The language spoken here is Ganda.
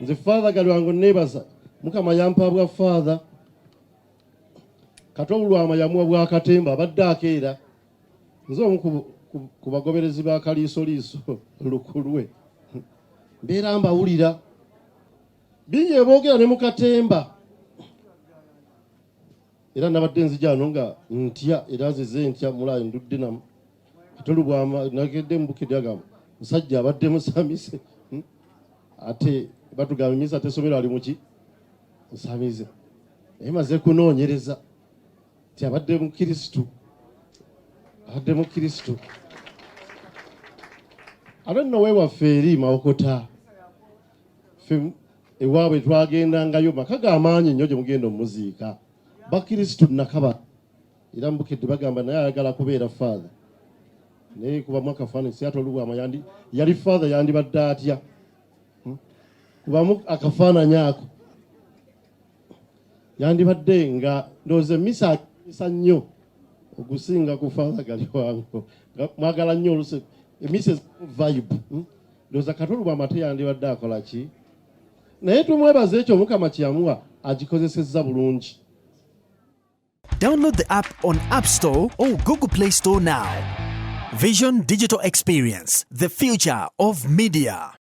nze father galwango nebaza mukama yampa bwa father kati obulwama yamuwa bwa katemba abadde akeera nze omu ku bagoberezi ba kaliisoliiso lukulwe mbeera mbawulira bingi eboogera ne mu katemba era nabadde nzija ano nga ntya era nzize ntya mulayi ndudde namu ate lubwama nagedde mubukidde agamba musajja abadde musamize hmm? ate batugamba emyezi ate esomero ali muki musamize naye maze kunoonyereza nti abadde mukirisitu abadde mukirisitu ate nowewaffe eri mawokota ewaabwe twagendangayo maka ga maanyi nnyo gye mugenda omuziika bakristu nakaba era mubukedde bagamba naye ayagala kubeera faatha naye kubamu akafaananyi siata olubwama yandi yali faatha yandibadde atya hmm? kubamu akafaananyi ako yandibadde nga ndowooza emmisa akisa nnyo okusinga ku faala gali wango mwagala nnyo oluse emmisa vibe hmm? ndowooza katulu bwamate yandibadde akola ki naye tumwebaza ekyo mukama kyeyamuwa agikozesezza bulungi download the app on app store or google play store now vision digital experience the future of media